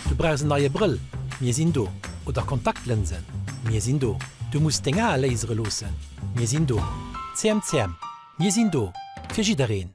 Du brauchs en neie Brëll? Mir sinn do! Oder Kontaktlënsen? Mir sinn do! Du muss deng Ae lasere loossen? Mir sinn do! CMCM, Mir sinn do fir jiddereen!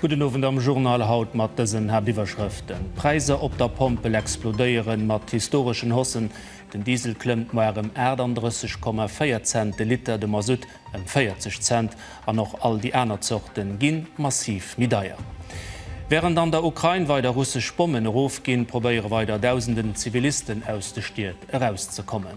Gudden Owend am Journal haut mat dësen Haaptiwwerschrëften, D'Präisser op der Pompel explodéieren mat historeschen Haussen, den Diesel klëmmt moar ëm 38,4 Cent de Liter, de Masutt ëm 40 Cent an och all déi aner Zorte gi massiv méi deier. Wärend an der Ukrain weider russesch Bommen erofginn, probéiere weider Dausenden Zivilisten aus de Stied erauszekommen.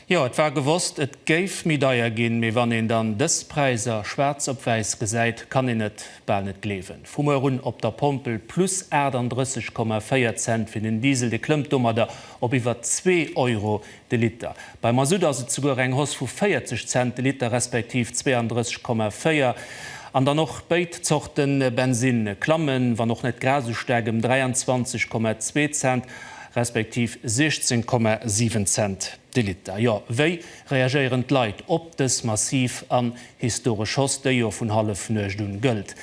Jo, et war gewosst, et géif méi deier ginn, mee wann een dann dës Präiser schwaarz op wäiss gesäit, kann een et bal net gleewen. Vu muer un op der Pompel plus 38,4 Cent fir den Diesel, dee klëmmt domadder op iwwer zwee Euro de Liter. Beim Masutt ass et souguer eng Hausse vu 40 Cent de Liter, respektiv 32,4. An dann och béid Zorte Bensinn klamme, wann och net grad esou staark, ëm 23,2 Cent. respektiv 16,7 Cent de Liter. Jo, wéi reagéieren d'Leit op dës massiv an historesch Hausse, déi jo vun Hallefnuecht un gëllt?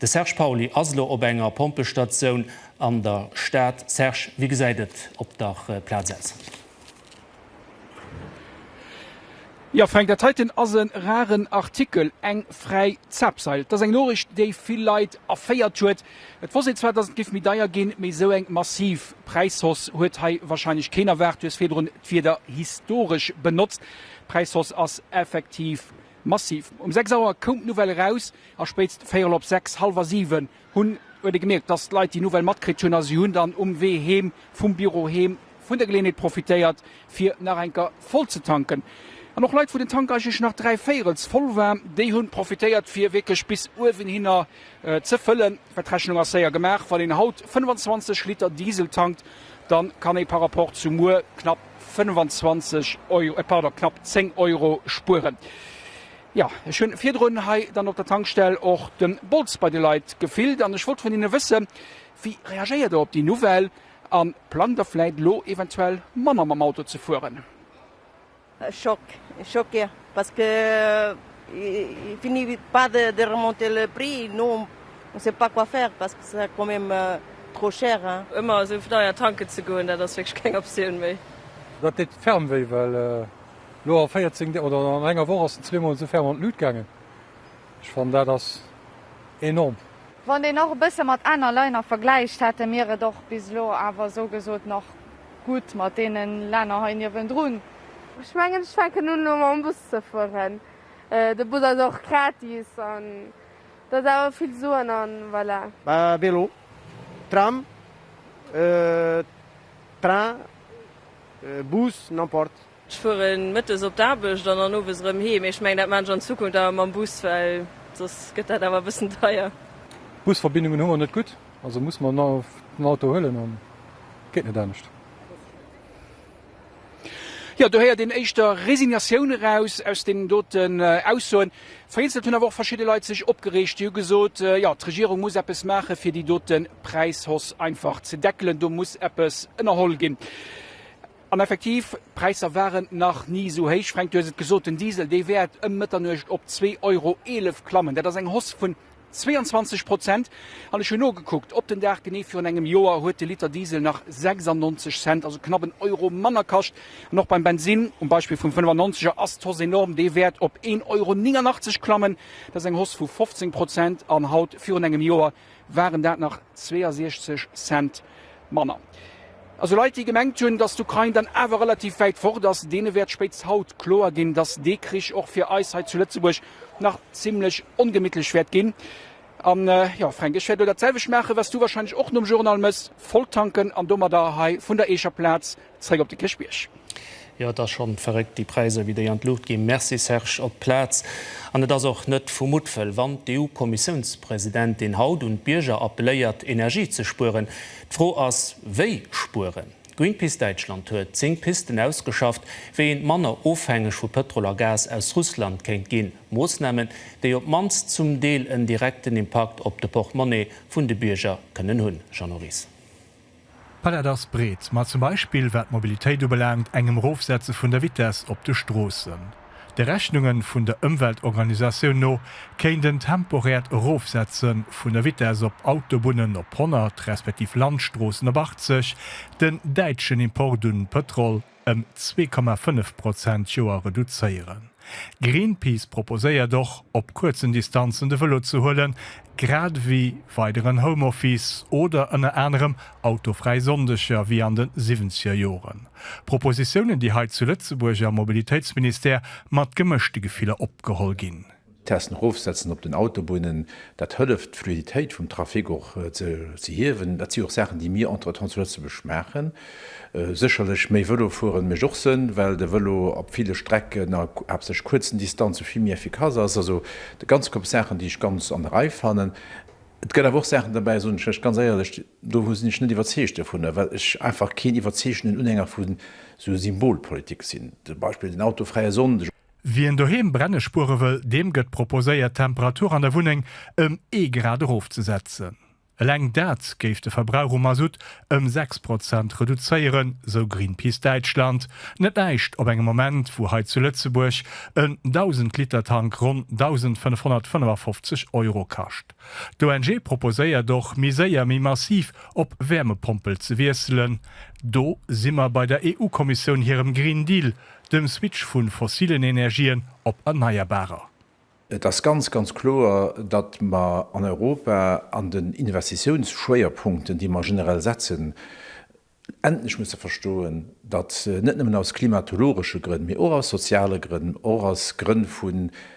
De Serge Pauly ass elo op enger Pompestatioun an der Stad. Serge, wéi gesäit et op der Plaz aus? Jo Fränk, dat heiten ass e raren Artikel, eng fräi Zapseil. Et ass eng Noriicht, déi vill Leit erféiert huet. Et wosst een zwar, datt et géif méi deier ginn, mee esou eng massiv Präishoss huet hei wahrscheinlech keen erwaart. Du hues virdrun d'Wierder historesch benotzt. D'Präishoss ass effektiv massiv. Um 6 Auer koum d'Nouvelle eraus a spéitst véierel op 6, hallwer 7, Hunn huet ee gemierkt, dass d'Leit déi Nouvelle matkritt hunn a si hunn dann um Wee heem vum Büro heem vun der Geleeënheet profitéiert, fir nach eng Kéier voll ze tanken. An och Leit, wou den Tank eigentlech nach dräi Véirels voll war, déi hunn profitéiert, fir wierklech bis uewen hinner ze fëllen. Well d'Rechnung ass séier gemaach, Wann een haut 25 Liter Diesel tankt, da kann ee par rapport zu muer knapp 25 Euro, pardon, knapp 10 Euro spueren. Jo, ech hunn virdrun hei dann op der Tankstell och den Bolz bei de Leit gefillt an ech wollt vun hinnen wëssen, Wie reagéiert der op déi Nouvelle an plangt der vläit elo eventuell manner mam Auto ze fueren? Choc, choc jo, parce que ils finissent pas de remonter le prix, nous on ne sait pas quoi faire parce que c'est quand même trop cher hein. Ëmmer esou deier tanken ze goen, dat ass wierklech keng Optioun méi. Dat deet ferme wéi well. Lo a 14 Deeg oder an enger Woch ass en zweemol esou ferm an d'Lut gaangen. Ech fannen dat ass enorm. Wann een nach e bësse mat aner Länner vergläicht, hate mir et och bis elo awer esou gesot nach gutt mat deene Länner hei niewendrun. Ech mengen ech fänken un elo mam Bus ze fueren. De Bus ass och gratis an dat ass awer vill Suen an voilà. Vélo, Tram, Train. Bus, n'importe. Ech fuere mëttes op d'Aarbecht an dann owes erëm heem. Ech mengen, dat maachen ech an Zukunft awer mam Bus, well soss gëtt dat awer e bëssen deier. D'Busverbindungen hu mer net gutt, also musse mer den Auto huelen a geet net anescht. Jo, do héiert een éischter Resignatioun eraus aus deenen doten Aussoen. Vereenselt hunn awer och verschidde Leit sech opgereegt. Déi hu gesot, jo, d'Regierung muss eppes maache fir déi dote Präishoss einfach ze deckelen, do muss eppes ënnerholl ginn. An effektiv, d'Präisser waren nach ni esou héich. Fränk, du hues et gesot, den Diesel, dee wäert ëm Mëtternuecht op zwee Euro eelef klammen. Dat ass eng Hoss vun 22 Prozent. An ech hunn nogekuckt, op den Dag genee virun engem Joer huet de Liter Diesel nach 96 Cent, also knapp en Euro manner kascht. An och beim Bensinn, um Beispill vum 95 er, ass d'Hausse enorm, dee wäert op 1 Euro 89 klammen. Dat ass eng Hausse vu 15 Prozent. An haut virun engem Joer waren dat nach 62 Cent Manner. Esou Leit, déi gemengt hunn, datt d'Ukrain dann awer relativ wäit fort ass, deene wäert spéitst haut kloer ginn, datt dee Krich och fir eis hei zu Lëtzebuerg nach zimlech ongemittlech wäert ginn. A jo, Fränk, ech wäert elo dat selwecht maachen, wat s du wahrscheinlech och nom Journal méchs, volltanken an domadder hei vun der Eecher Plaz Zréck op de Kirchbierg. Jo et ass schon verréckt déi Präiser wéi déi an d'Luucht ginn. Merci Serge. Op d'Plaz. An et ass och net vu Muttwëll wann d'EU Kommissiounspresidentin haut un d'Bierger appeléiert Energie ze spueren. D'Fro ass wéi spueren? Greenpeace Däitschland huet 10 Pisten ausgeschafft wéi een manner ofhängeg vu Pëtrol a Gas aus Russland kéint ginn. Moossnamen déi op d'mannst zum Deel en direkten Impakt op de Portemonnaie vun de Bierger kënnen hunn. Jeannot Ries. D'Palett ass breet, ma zum Beispill wat d'Mobilitéit ubelaangt, engem Erofsetze vun der Vitess op de Stroossen. De Rechnunge vun der Ëmweltorganisatioun no kéint en temporäert Erofsetze vun der Vitess op Autobunnen op 100 respektiv Landstroossen op 80 den däitschen Import un Pëtrol, ëm zwee Komma fënnef Prozent d'Joer reduzéieren. Greenpeace proposéiert och, op kuerzen Distanzen de Vëlo ze huelen, grad ewéi weideren Homeoffice oder ënner anerem autofräi Sonndeger ewéi an de siwwenzeger Joren. Propositiounen, déi hei zu Lëtzebuerg am Mobilitéitsministère mat gemëschte Gefiller opgeholl ginn. D'Testen erofsetzen op den Autobunnen, dat hëlleft d'Fluiditéit vum Trafic och ze hiewen. Dat si och Saachen, déi mir entretemps zu Lëtzebuerg maachen. Sécherlech méi Vëlo fueren mécht och Sënn, well de Vëlo op ville Strecken a haaptsächlech kuerzen Distanze vill méi efficace ass. Also de ganze Koup Saachen, déi ech ganz an der Rei fannen. Et gëtt awer och Saachen derbäi, soen ech lech ganz éierlech, do sinn ech net iwwerzeegt dovunner, well ech einfach keen iwwerzeegenden Unhänger vu sou Symbolpolitik sinn, zum Beispill den autofräie Sonndeg. Wien doheem Brenne spuere wëll, deem gëtt proposéiert d'Temperatur an der Wunneng ëm ee Grad erofzesetzen. Eleng dat géif de Verbrauch u Masutt ëm 6 Prozent reduzéieren, sou Greenpeace Däitschland. Net näischt op engem Moment, wou hei zu Lëtzebuerg en 1.000 Liter Tank ronn 1.555 Euro kascht. D'ONG proposéiert och, méi séier, méi massiv op Wäermepompel ze wiesselen. Do si mer bei der EU-Kommissioun hirem Green Deal. Dem Switch vu fossilen Energien op erneierbarer. Et ass ganz, ganz kloer, datt mer an Europa an den Investitiounsschwéierpunkten, déi mer generell setzen, endlech musse verstoen, datt net nëmmen aus klimatologesche Grënn, mee och aus soziale Grënn, och aus Grënn vu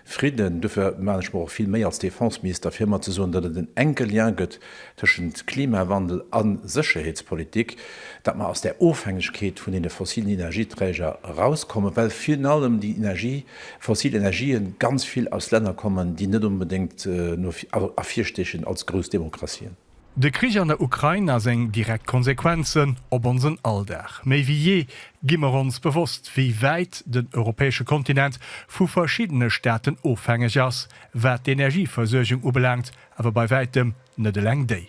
Fridden. Dofir maan ech mer och vill Méi als Défenseminister fir emmer ze soen, datt et en enke Lien gëtt tëschent Klimawandel a Sécherheetspolitik, datt mer aus där Ofhängegkeet vun deene fossilen Energieträger erauskommen, well virun allem déi Energie, fossil Energië ganz vill aus Länner kommen, déi net onbedéngt no ervirstechen als grouss Demokratien. De Krich an der Ukrain a seng direkt Konsequenzen op onsen Alldag. Méi wéi jee gi mer ons bewosst, wéi wäit den europäesche Kontinent vu verschiddene Staaten ofhängeg ass, wat d'Energieversuergung ubelaangt, awer bei wäitem net eleng déi.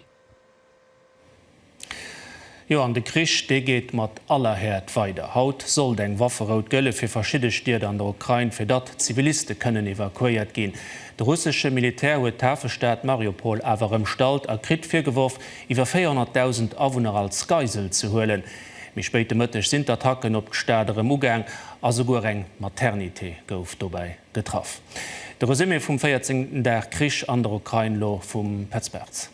Jo, an de Krich, dee geet mat aller Häert weider. Haut sollt eng Wafferout gëlle fir verschidde Stied an der Ukrain, fir datt Ziviliste kënnen evakuéiert ginn. De russesche Militär huet d'Hafestad Mariupol awer ëmstallt a kritt virgeworf, iwwer 400.000 Awunner als Geisel ze huelen. Méi spéit de Mëtteg sinn d'Attacken op d'Stad erëm ugaang a souguer eng Maternité gouf dobäi getraff. De Resumé vum véierzéngten Dag Krich an der Ukrain lo vum Petz Bartz.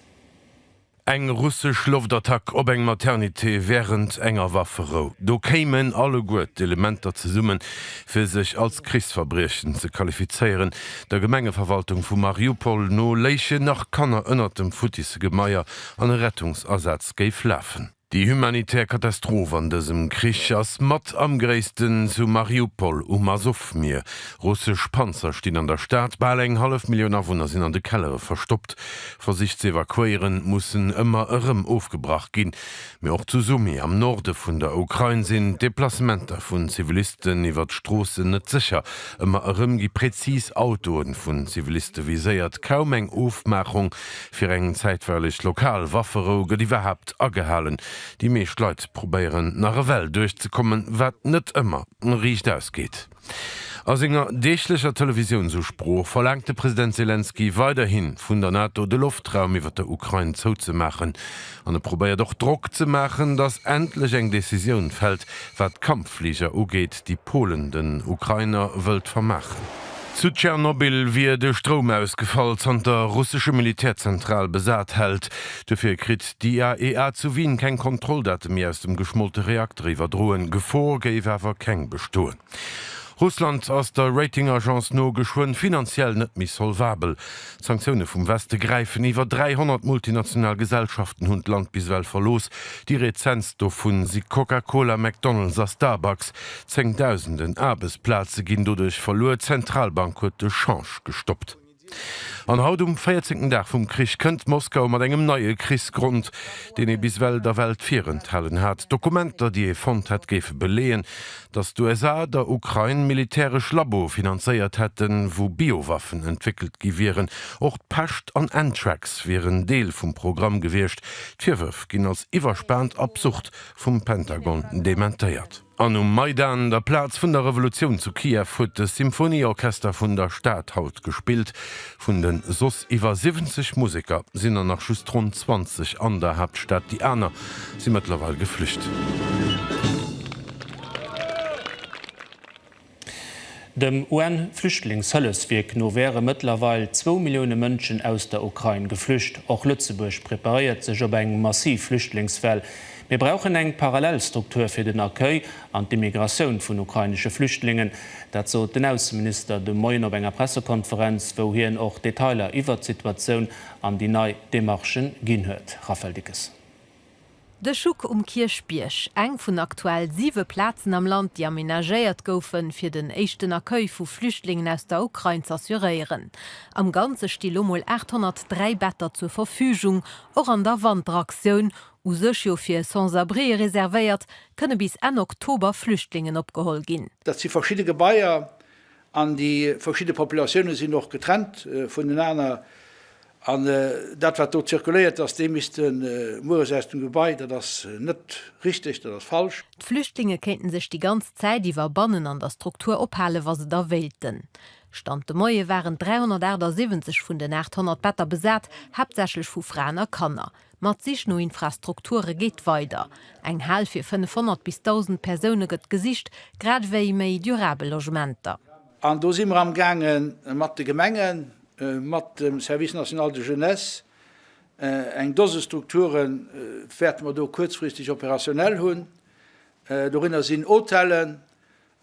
Eng russesch Loftattack op eng Maternité wärend enger Wafferou, do kéimen alleguer d'Elementer zesummen, fir sech als Krichsverbriechen ze qualifizéieren. Der Gemengeverwaltung vu Mariupol no léichen nach Kanner ënnert dem futtissen Gemaier an e Rettungsasaz géif lafen. Déi humanitär Katastroph an dësem Krich ass mat am gréissten zu Mariupol um Asowmier. Russesch Panzer stinn an der Stad, bal eng hallef Millioun Awunner sinn an de Kellere verstoppt. Versich ze evakuéieren mussen ëmmer erëm ofgebrach ginn. Mee och zu Sumy am Norde vun der Ukrain sinn d'Deplacementer vun Zivilisten iwwer d'Stroossen net sécher. Ëmmer erëm gi präzis Autoe vun Ziviliste viséiert. Kaum eng Ofmaachung Fir eng zäitweileg lokal Wafferou gëtt iwwerhaapt agehalen? Déi meescht Leit probéieren nach ewell duerchzekommen, wat net ëmmer riicht ausgeet. A senger deeglecher Televisiounsusprooch verlaangt de President Selenskyj weiderhi vun der NATO de Loftraum iwwer der Ukrain zouzemaachen. An e probéiert och Drock ze maachen, datt endlech eng Decisioun fält, wat d'Kampffliger ugeet, déi Polen den Ukrainer wëllt vermaachen. Zu Tschernobyl wier de Stroum ausgefall, zanter russesche Militärzentral besat hält. Dofir kritt d'IAEA zu Wien keng Kontrolldate méi aus dem geschmollte Reakter iwwerdroen. Gefor géif awer keng bestoen. Russland ass der Rating-Agence no geschwënn finanziell net méi solvabel. D'Sanktioune vum Weste gräifen. Iwwer 300 multinational Gesellschaften hunn d'Land bis ewell verlooss. Déi rezentst dovu si Coca-Cola, McDonald's a Starbucks. Zéngdausenden Aarbechtsplaze ginn doduerch verluer. D'Zentralbank huet de Change gestoppt. An haut, um véierzéngten Dag vum Krich, kënnt Moskau mat engem neie Krichsgrond, deen ee bis ewell der Welt virenthalen hat. Dokumenter, déi ee fonnt hätt, géife beleeën, datt d'USA der Ukrain militäresch Laboe finanzéiert hätten, wou Biowaffen entwéckelt gi wieren. Och d'Pescht an Anthrax wieren Deel vum Programm gewiescht. D'Virwërf ginn als iwwerspaant absurd vum Pentagon dementéiert. An um Maidan, der Plaz vun der Revolutioun zu Kiew, huet de Symphonieorchester vun der Stad haut gespillt. Vun de soss iwwer 70 Museker sinn der nach just ronn 20 an der Haaptstad, déi aner si mëttlerweil geflücht. Dem UN-Flüchtlingshëllefswierk no wäre mëttlerweil zwou Millioune Mënschen aus der Ukrain geflücht. Och Lëtzebuerg preparéiert sech op eng massiv Flüchtlingswell. Mir brauchen eng parallel Struktur fir den Accueil an d'Immigratioun vun ukrainesche Flüchtlingen. Dat sot den Ausseminister de Moien op enger Pressekonferenz, wou hien och Detailer iwwert d'Situatioun an déi nei Demarchen ginn huet. Raphaël Dickes. De Schuck um Kierchbierg, eng vun aktuell siwe Plazen am Land, déi amenagéiert goufen, fir den éischten Accueil vu Flüchtlingen aus der Ukrain z'assuréieren. Am Ganze sti lo mol 803 Better zur Verfügung. Och an der Wanteraktioun, u sech jo fir Sans-abrieë reservéiert, kënne bis Enn Oktober Flüchtlingen opgeholl ginn. Dat si verschidde Gebaier An déi verschidde Populatioune sinn och getrennt vunenaner. An dat, wat do zirkuléiert, dass déi misste mueres aus dem Gebai, dat ass net richteg, dat ass falsch. D'Flüchtlinge kéinten sech déi ganz Zäit iwwer bannen an der Struktur ophalen, wa se da wéilten. Stand de Moie waren 378 vun den 800 Better besat, haaptsächlech vu Fraen a Kanner. Ma d'Sich no Infrastrukture geet weider. Eng Hal fir 500 bis 1.000 Persoune gëtt gesicht, grad ewéi méi durabel Logementer. An do si mer amgaange mat de Gemengen, mat dem Service national de jeunesse, eng Dose Strukture wäerte mer do kuerzfristeg operationell hunn. Dorënner sinn Hotellen,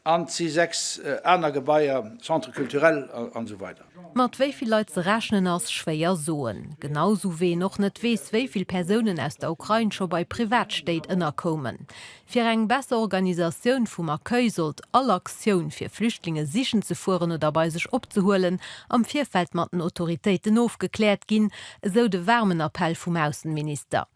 An et si sechs aner Gebaier, Centre culturel an esou weider. Mat wéi vill Leit ze rechnen ass schwéier soen, genau sou wéi een och net weess wéi vill Persounen aus der Ukrain scho bei Privatstéit ënnerkoumen. Fir eng besser Organisatioun vum Accueil sollt all Aktioun fir Flüchtlinge sichen ze fueren oder bei sech opzehuelen am Virfeld mat den Autoritéiten ofgekläert ginn, esou de waarmen Appell vum Aussenminister.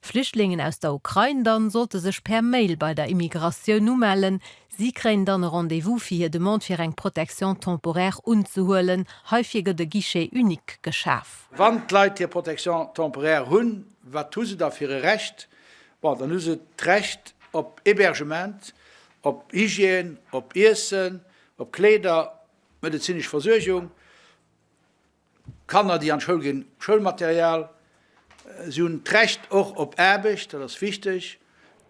Flüchtlingen aus der Ukrain dann sollte sech per Mail bei der Immigratioun umellen. Si kréien dann e Rendez-vous fir hir Demande fir eng Protection temporaire unzehuelen. Heifir gëtt e Guichet unique geschaf. Wann d'Leit hir Protection temporaire hunn, wat hu se da fir e Recht? Bon, dann hu se d'Recht op Hébergement, op Hygiène, op Iessen, op Kléider, medezinesch Versuergung. Kanner, déi an d'Schoul ginn, Schoulmaterial. Si hunn d'Recht och op Aarbecht, dat ass wichteg.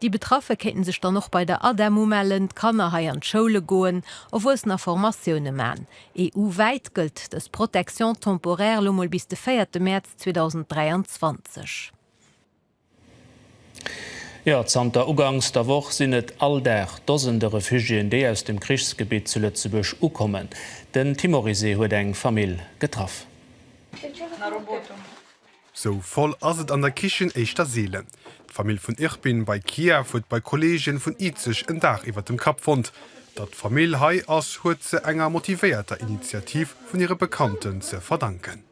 Déi Betraffe kéinten sech dann och bei der ADEM umellen, d'Kanner hei an d'Schoule goen, Erwuessener Formatioune man. EU-wäit gëllt dës Protection temporaire lo mol bis de véierte Mäerz 2023. Jo, zanter ugangs der Woch sinn et all Dag Dosende Refugiéen, déi aus dem Krichsgebitt zu Lëtzebuerg ukommen. Den Tim Orisé huet eng Famill getraff. Sou voll ass et an der Kichen éischter seelen. D'Famill vun Irpin bei Kiew huet bei Kolleegen vun Izeg en Daach iwwert dem Kapp fonnt. Datt d'Famill hei ass, huet se enger motivéierter Initiativ vun hire Bekannten ze verdanken.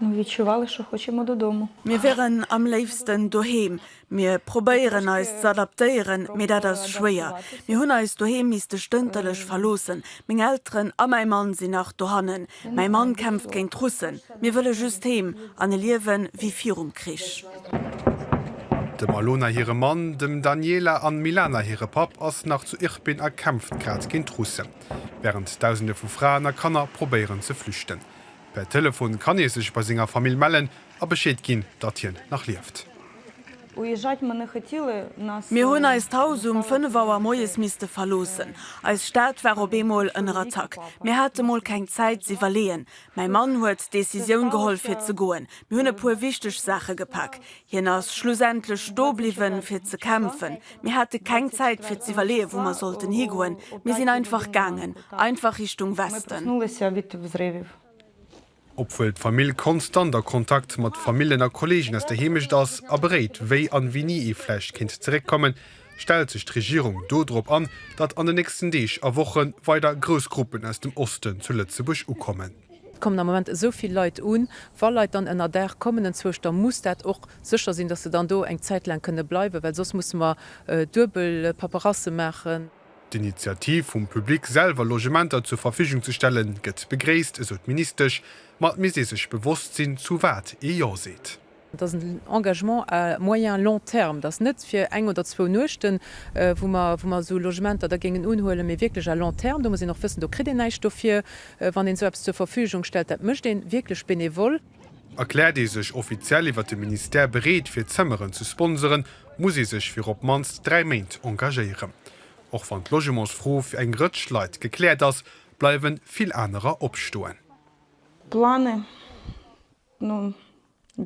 Mir wieren am léifsten doheem. Mir probéieren eis z'adaptéieren, mee dat ass schwéier. Mir hunn eist Doheem misste stënterlech verloossen. Meng Elteren a mäi Mann sinn nach dohannen. Mäi Mann kämpft géint d'Russen. Mir wëlle just heem an e Liewe wéi virum Krich. Dem Alona hire Mann, dem Daniela an Milana hire Papp ass nach zu Irpin a kämpft grad géint d'Russen, wärend Dausende vu Fraen a Kanner probéieren ze flüchten. Per Telefon kann ee sech bei senger Famill mellen a Bescheed ginn, datt hien nach lieft. Mir hunn eist Haus um 5 Auer moies misste verloossen. Eis Stad war op eemol ënner Attack. Mir hate mol keng Zäit z'iwwerleeën. Mäi Mann huet d'Decisioun geholl fir ze goen. Mir hunn e puer wichteg Saache gepak. Hien ass schlussendlech sto bliwwen, fir ze kämpfen. Mir hate keng Zäit, fir z'iwwerleeën, wou mer sollten higoen. Mir sinn einfach gaangen, einfach Richtung Westen. Obwuel d'Famill konstant a Kontakt mat Famillen a Kolleegen aus der Heemecht ass a beréit, wéi an wéini ee vläicht kéint zeréckkommen, stellt sech d'Regierung do drop an, datt an den nächsten Deeg a Woche weider grouss Gruppen aus dem Osten zu Lëtzebuerg ukommen. Et kommen am Moment esou vill Leit un. Wa Leit dann ënnerdaach kommen enzwousch, da muss dat och sécher sinn, datt se dann do eng Zäit laang kënne bleiwen, well soss musse mer duebel Paperasse maachen. D'Initiativ vum Public, selwer Logementer zur Verfügung ze stellen, gëtt begréisst, esou d'Ministesch, ma et misst ee sech bewosst sinn, zu wat ee Jo seet. Et ass en Engagement à moyen, long terme. Et ass net fir eng oder zwou Nuechten, wou mer, wou mer esou Logementer da géingen unhuelen, mee wierklech à long terme. Do muss een och wëssen, do kritt een näischt dofir, wann een esou eppes zur Verfügung stellt. Dat mécht een wierklech benevol. Erkläert ee sech offiziell iwwert de Ministère bereet, fir Zëmmeren ze sponseren, muss ee sech fir op d'mannst dräi Méint engagéieren. Och wann d'Logementsfro fir eng Rëtsch Leit gekläert ass, bleiwe vill anerer opstoen. D'Plaintë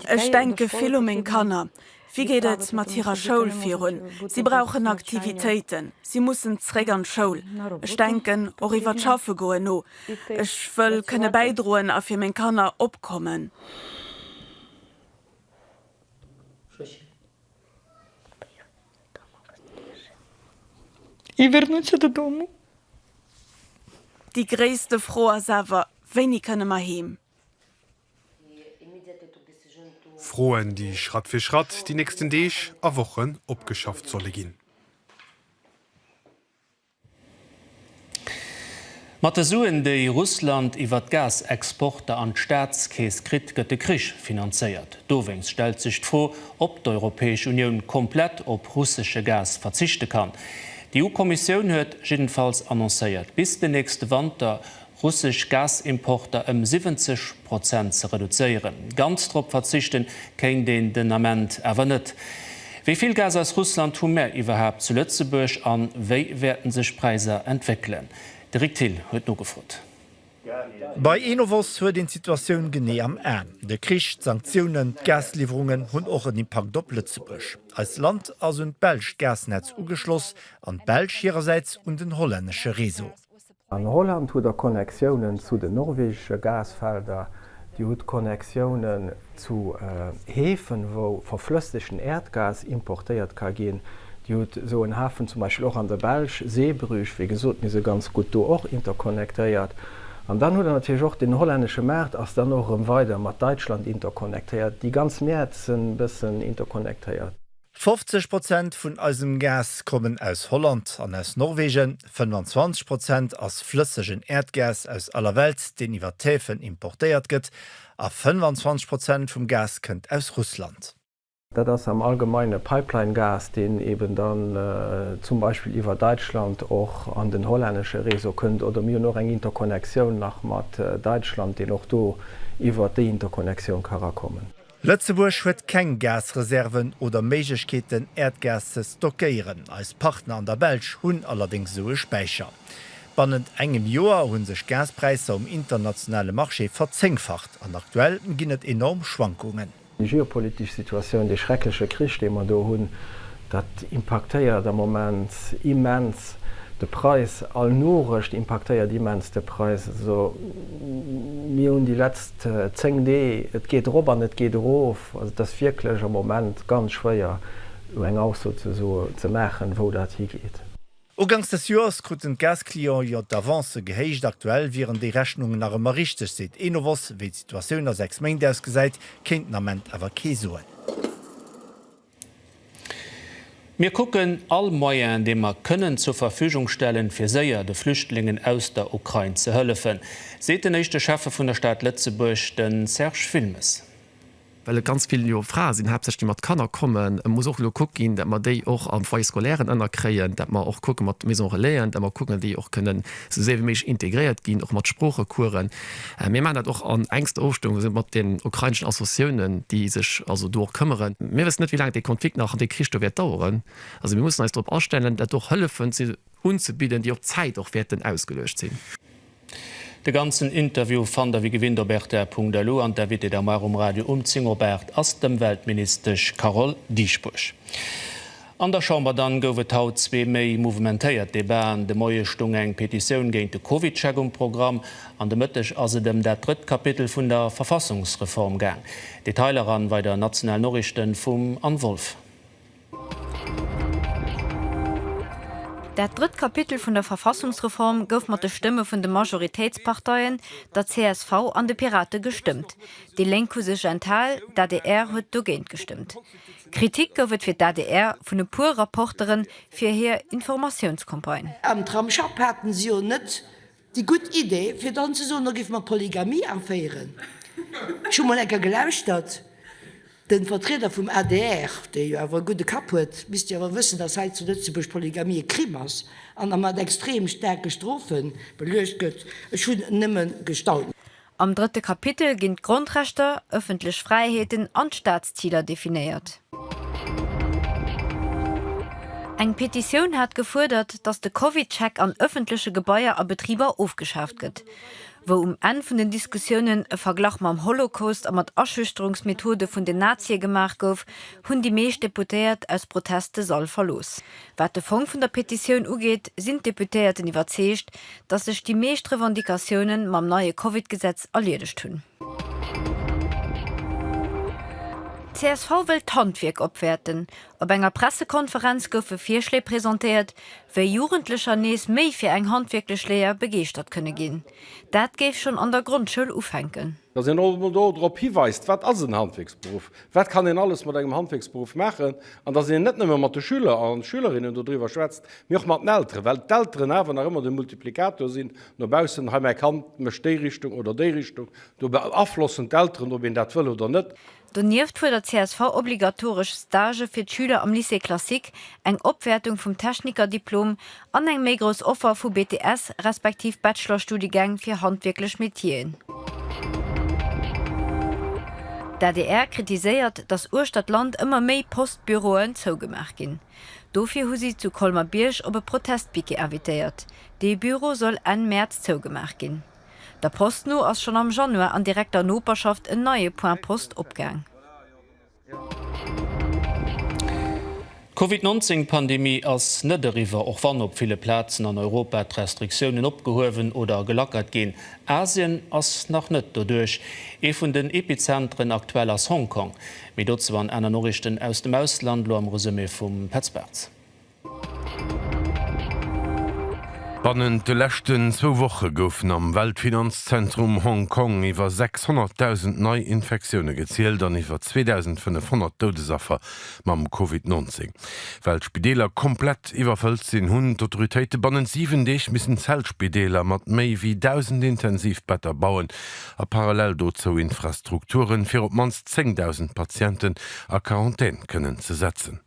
Ech denke vill u meng Kanner. Wéi geet et mat hirer Schoul virun? Si brauchen Aktivitéiten, si mussen zréck an d'Schoul. Ech denken och iwwer d'Schaffe goen no. Ech wëll kënne bäidroen a fir meng Kanner opkommen. Déi gréisste Fro ass awer, Wéini kënne mer heem? Froen, déi Schratt fir Schratt déi nächsten Deeg a Wochen opgeschafft solle ginn. Mat de Suen, déi Russland iwwer d'Gasexporter an d'Staatskeess kritt, gëtt de Krich finanzéiert. Dowéinst stellt sech d'Fro, ob d'Europäesch Unioun komplett op russesche Gas verzichte kann. D'EU-Kommissioun huet jiddefalls annoncéiert, bis den nächste Wanter russesch Gasimporter ëm 70 Prozent ze reduzéieren. Ganz drop verzichte kéint een den Ament awer net. Wéi vill Gas aus Russland hu mär iwwerhaapt zu Lëtzebuerg a wéi wäerten sech Präiser entwéckelen? De Rick Thill huet nogefrot. Bei Enovos huet een d'Situatioun genee am Aen. De Krich, d'Sanktiounen, d'Gasliwwerungen hunn och en Impakt op Lëtzebuerg. Eist Land ass un d'belsch Gasnetz ugeschloss an d'Belsch hirersäits un den hollännesche Réseau. An Holland hutt der Connectiounen zu den norwegesche Gasfelder, Dir hutt Connectiounen zu Häfen, wou verflëssegten Äerdgas importéiert ka ginn. Dir hutt esou en Hafen zum Beispill och an der Belsch, Zeebrugge, wéi gesot, mir si ganz gutt do och interconnectéiert. An dann hutt Der natierlech och den hollännesche Maart ass dann och erëm weider mat Däitschland interconnectéiert. Déi ganz Mäert sinn e bëssen interconnectéiert. 50 Prozent vun eisem Gas kommen aus Holland an aus Norwegen, 25 Prozent ass flëssegen Äerdgas aus aller Welt, deen iwwer d'Häfen importéiert gëtt, a 25 Prozent vum Gas kënnt aus Russland. Dat ass am Allgemeine Pipeline-Gas, deen eeben dann zum Beispill iwwer Däitschland och an den hollännesche Réseau kënnt, oder mir hunn och eng Interconnectioun nach mat Däitschland, deen och do iwwer déi Interconnectioun ka rakommen. Lëtzebuerg huet keng Gasreserven oder Méiglechkeeten, Äerdgas ze stockéieren. Eis Partner an der Belsch hunn allerdéngs esou e Späicher. Bannent engem Joer hu sech d'Gaspräisser um internationale Marché verzéngfacht an aktuell ginn et enorm Schwankungen. Déi geopolitesch Situatioun, dee schreckleche Krich, dee mer do hunn, dat impaktéiert am Moment immens de Präis. All Norecht impaktéiert immens de Präis. Also mir hunn déi letzt. Zéng Dee, et geet erop an et geet erof. Also et ass wierklech am Moment ganz schwéier, elo eng Ausso ze soen, ze maachen, wou dat higeet. Ugangs des Joers kruten d'Gas-Clienten jo d'Avancë gehéicht. Aktuell wieren déi Rechnungen nach ëmmer richteg, seet Enovos. Wéi d'Situatioun a sechs Méint ausgesäit, kéint den Ament awer kee soen. Mir kucken all Moyen, dee mer kënnen zur Verfügung stellen, fir séier de Flüchtlingen aus der Ukrain ze hëllefen, seet den éischte Schäffe vun der Stad Lëtzebuerg, de Serge Wilmes. Well et ganz vill jo Frae sinn, haaptsächlech, déi mat Kanner kommen, muss och elo kuckt ginn, dat mer déi och am Foyer scolaire ënnerkréien, dat mer och kucke mat Maison-relaisen, dat mer kucken, dat déi och kënnen esou séier wéi méiglech integréiert ginn, och mat Sproochecoursen. Mir maachen dat och an enkster Ofstëmmung mat den ukraineschen Associatiounen, déi sech also do och këmmeren. Mir wëssen net, wéi laang dee Konflikt nach an dee Krich do wäert daueren. Also mir mussen eis drop astellen, dat och Hëllefen unzebidden, déi op Zäit och wäerten ausgeluecht sinn. De ganzen Interview fannt der wéi gewinnt op rtr.lu an d'Invitée d'Armoire um Radio um 10 op 8 ass d'Ëmweltministesch Carole Dieschbourg. An der Chamber dann gouf et haut zwee méi mouvementéiert Debaten. De Moie stung eng Petitioun géint de Covid-Check um Programm an de Mëtteg ass et ëm dat drëtt Kapitel vun der Verfassungsreform gaang. Detailer eran bei der National Norichten vum Anne Wolff. Dat drëtt Kapitel vun der Verfassungsreform gouf mat de Stëmme vun de Majoritéitsparteien, der csv an de Pirate gestëmmt. Déi Lénk hu sech enthal, d'ADR huet dogéint gestëmmt. Kritik gouf et fir d'ADR vun e puer Rapporteren fir hir Informatiounscampagne. Am Tramsschapp haten se jo net déi gutt Idee fir dann ze soen, da géife mer d'Polygamie aféieren. Ech hu mol eng Kéier gelauschtert, de Vertrieder vum adr, dee jo awer e gudde Kapp huet, misst jo awer wëssen, datt hei zu Lëtzebuerg d'Polygamie e Crime ass an a mat extrem staarke Strofe beluecht gëtt. Ech hunn nëmme gestaunt. Am drëtte Kapitel ginn d'Grondrechter, ëffentlech Fräiheeten an d'Staatsziler definéiert. Eng Petitioun hat gefuerdert, datt de Covid-Check an ëffentleche Gebaier a Betriber ofgeschaaft gëtt. Wou um Enn vun den Diskussiounen e Verglach mam Holocaust a mat Aschüchterungsmethode vun den Nazie gemaach gouf, hunn déi meescht Deputéiert aus Protest de Sall verlooss. Wat de Fong vun der Petitioun ugeet, sinn d'Deputéierten iwwerzeegt, datt sech déi meescht Revendicatioune mam neie Covid-Gesetz erliedegt hunn. Csv wëllt d'Handwierk opwäerten. Op enger Pressekonferenz goufe Virschléi presentéiert, wéi Jugendlecher nees méi fir eng handwierklech Léier begeeschtert kënne ginn. Dat géif schonn an der Grondschoul ufänken. Datt een och emol do drop hiweist, wat ass en Handwierksberuff, wat kann een alles mat engem Handwierksberuff maachen, an datt een net nëmme mat de Schüler a Schülerinnen dodriwwer schwätzt, mee och mat den Elteren, well d'Elteren awer nach ëmmer de Multiplikator sinn no baussen, hei mäi Kand mécht déi Richtung oder déi Richtung, do beaflossen d'Elteren, ob een dat wëll oder net. Donieft fuerdert d'csv obligatoresch Stagë fir d'Schüler am Lycée classique, eng Opwäertung vum Technikerdiplom an eng méi grouss Offer vu BTS respektiv Bachelorstudiegäng fir handwierklech Metier'en. D'adr kritiséiert, datt uechter d'Land ëmmer méi Post-Büroen zougemaach ginn. Dofir hu si zu Colmer-Bierg op e Protest-Piquet invitéiert. Dee Büro soll Enn Mäerz zougemaach ginn. Der Post no ass schonn am Januar an direkter Noperschaft en neie Point Post opgaang. D'Covid 19 Pandemie ass net eriwwer, och wann op ville Plazen an Europa d'Restriktiounen opgehuewen oder gelackert ginn. Asien ass nach net doduerch. Ee vun den Epizenteren aktuell ass Hongkong. Méi dozou an aner Noriichten aus dem Ausland, lo am Resumé vum Petz Bartz. Bannent de leschten zwou Woche goufen am Weltfinanzzentrum Hong Kong iwwer 600.000 nei Infektioune gezielt an iwwer 2.500 Doudesaffer mam Covid 19. Well d'Spideeler komplett iwwerfëllt sinn, hunn d'Autoritéite bannent 7 Deeg missen Zeltspideeler mat méi wéi 1.000 Intensivbetter bauen a parallel dozou Infrastrukture fir op d'mannst 10.000 Patienten a Quarantän kënnen ze setzen.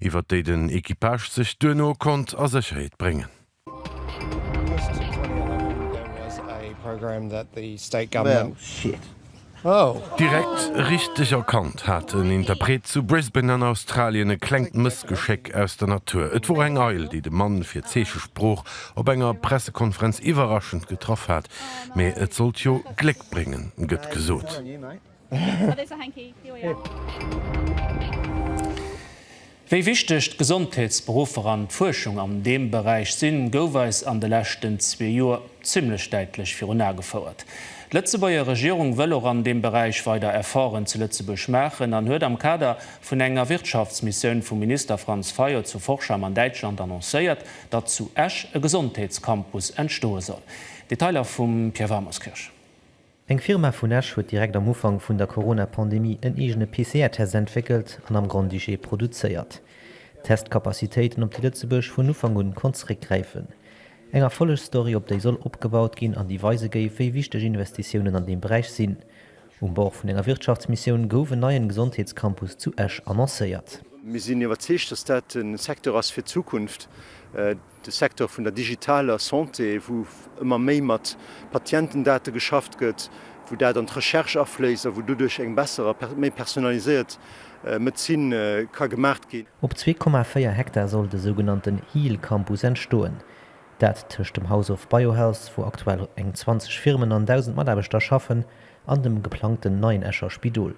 iwwert déi den Equipage sech duerno konnt a Sécherheet bréngen. Direkt richteg erkannt hat en Interpret zu Brisbane an Australien e klengt Mëssgeschéck aus der Natur. Et wor eng Eil, déi de Mann fir Zeechesprooch op enger Pressekonferenz iwwerraschend getraff hat. Mee et sollt jo Gléck bréngen, gëtt gesot. Wéi wichteg d'Gesondheetsberuffer an d'Fuerschung an deem Beräich sinn, gouf eis an de leschten zwee Joer zimmlech däitlech virun Ae gefouert. D'Lëtzebuerger Regierung wëll och an deem Beräich weider Efforten zu Lëtzebuerg maachen an huet am Kader vun enger Wirtschaftsmissioun vum Minister Franz Fayot zu Forchheim an Däitschland annoncéiert, datt zu Esch e Gesondheetscampus entstoe soll. Detailer vum Pierre Wamerskirch. Eng Firma vun Esch huet direkt am Ufank vun der Corona-Pandemie en eegene PCR-Test entwéckelt an am Grand-Duché produzéiert. D'Test-Capacitéiten op déi Lëtzebuerg vun Ufank un konnt zeréckgräifen. Eng Erfollegsstory op déi soll opgebaut ginn an déi weise géif, wéi wichteg Investitiounen an deem Beräich sinn. Um Bord vun enger Wirtschaftsmissioun gouf en neien Gesondheetscampus zu Esch annoncéiert. Mir sinn iwwerzeegt, dass dat e Secteur ass fir d'Zukunft. De Secteur vun der digitaler Santé, wou ëmmer méi mat Patientendate geschafft gëtt, wou dat an d'Recherche afléisst a wou doduerch eng besser a méi personaliséiert Medezin ka gemaach ginn. Op zwee Komma véier Hektar soll de sougenannten Heal Campus entstoen. Dat tëscht dem House of Biohealth, wou aktuell eng 20 Firmen an 1.000 Mataarbechter schaffen, an dem geplangten neien Escher Spidol.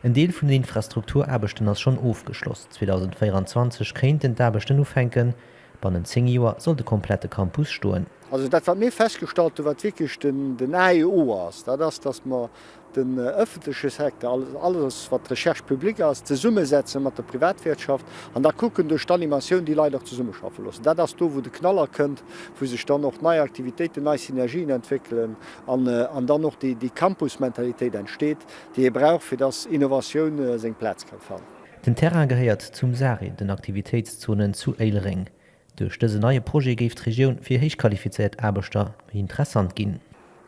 En Deel vun den Infrastrukturaarbechten ass schonn ofgeschloss, 2024 kéinten d'Aarbechten ufänken, bannent 10 Joer soll de komplette Campus stoen. Also dat, wat mir festgestallt hunn, wat wierklech den A et O ass, dat ass, datt mer den ëffentleche Secteur, also alles, wat d'Recherche publique ass, zesummesetzen mat der Privatwirtschaft an da kucken, duerch d'Animatioun déi Leit och zesummeschaffe loossen. Dat ass do, wou de Knaller kënnt, wou sech dann och nei Aktivitéiten, nei Synergien entwéckelen an dann och déi Campusmentalitéit entsteet, déi ee brauch fir dass Innovatioun seng Plaz kann fannen. Den Terrain gehéiert zum SARI, den Aktivitéitszonen zu Éilereng. Duerch dësen neie Projet géif d'Regioun fir héichqualifizéiert Aarbechter méi interessant ginn.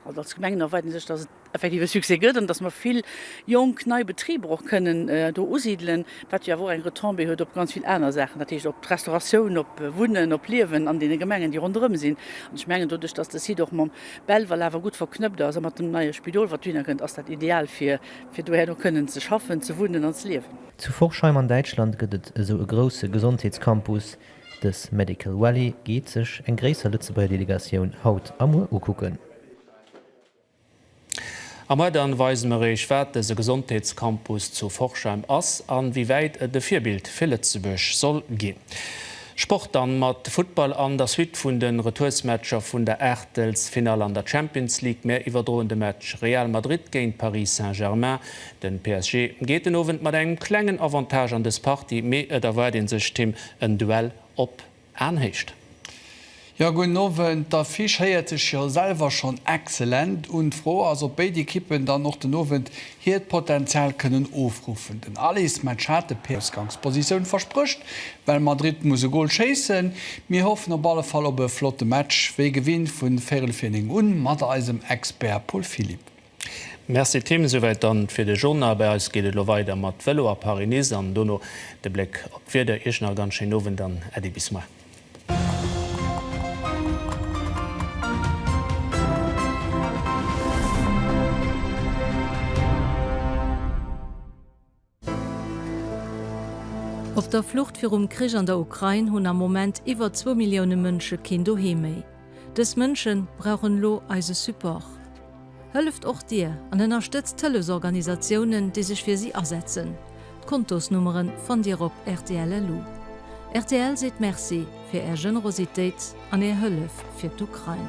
Also als Gemengen erwaarden ech sech, dass et effektiv e Succès gëtt an dass mer vill jonk nei Betriber och kënnen do usidelen, wat jo awer och eng Retombée huet op ganz vill aner Saachen, dat heescht op d'Restauratioun, op Wunnen, op Liewen an deene Gemengen, déi ronderëm sinn. An ech mengen, doduerch dass de Site och mam. Belval awer gutt verknëppt ass a mat dem neie Spidol, wat dohinner kënnt, ass dat ideal fir fir doherno kënnen ze schaffen, ze wunnen an ze liewen. Zu Forchheim an Däitschland gëtt et esou e grousse Gesondheetscampus. Dës Medical Valley geet sech eng gréisser Lëtzebuerger Delegatioun haut a muer ukucken. A moi dann weise mer Eech wat dëse Gesondheetscampus zu Forchheim ass an wéi wäit et e Virbild fir Lëtzebuerg soll ginn. Sport dann mat Futtball an der Suite vun den Retoursmatcher vun der Aachtelsfinall an der Champions League. Mär iwwerdroen de Match Real Madrid géint Paris Saint-Germain. Den PSG geet den Owend mat engem klengen Avantage an des Partie, mee et erwaart een sech, Tim, en Duell op Aenhéicht. Jo, gudden Owend. D'Affiche héiert sech jo selwer schonn excellent un. D'Fro ass, ob béid Ekippen dann och den Owend hiert Potenzial kënnen ofruffen. Den Alice Machate, PS. Ausgangspositioun versprécht, well Madrid muss e Gol schéissen. Mir hoffen op alle Fall op e flotte Match, wéi gewinnt vun véirel vir néng un, mat eisem Expert Paul Philipp. Merci Tim, esouwäit dann fir de Journal. Bei eis geet et elo weider mat Velo a Paris-Nice an dono de Bléck op d'Wieder. Iech nach e ganz schéinen Owend an Äddi bis muer. Op der Flucht virum Krich an der Ukrain hunn am Moment iwwer zwou Millioune Mënsche keen Doheem méi. Dës Mënsche brauchen elo eise Support. Hëlleft och Dir an ënnerstëtzt d'Hëllefsorganisatiounen, déi sech fir si asetzen. D'Kontosnummere fannt Dir op rtl.lu. Rtl seet Merci fir Är Generositéit an Är Hëllef fir d'Ukrain.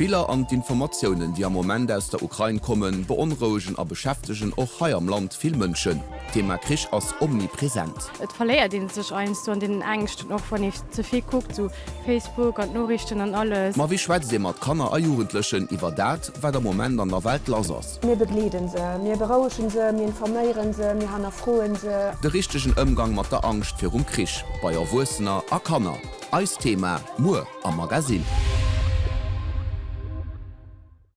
D'Biller an d'Informatiounen, déi am Moment aus der Ukrain kommen, beonrouegen a beschäftegen och hei am Land vill Mënschen. D'Thema Krich ass omnipresent. Et verléiert een sech heiansdo an deenen Ängschten, och wann ee ze vill kuckt, esou Facebook an d'Noriichten an alles. Ma wéi schwätzt ee mat Kanner a Jugendlechen iwwer dat, wat am Moment an der Welt lass ass? Mir begleede se, mir berouege se, mir informéiere se, mir hannerfroe se. De richtegen Ëmgang mat der Angscht virum Krich, bei Erwuessener a Kanner. Eist Thema muer am Magasinn.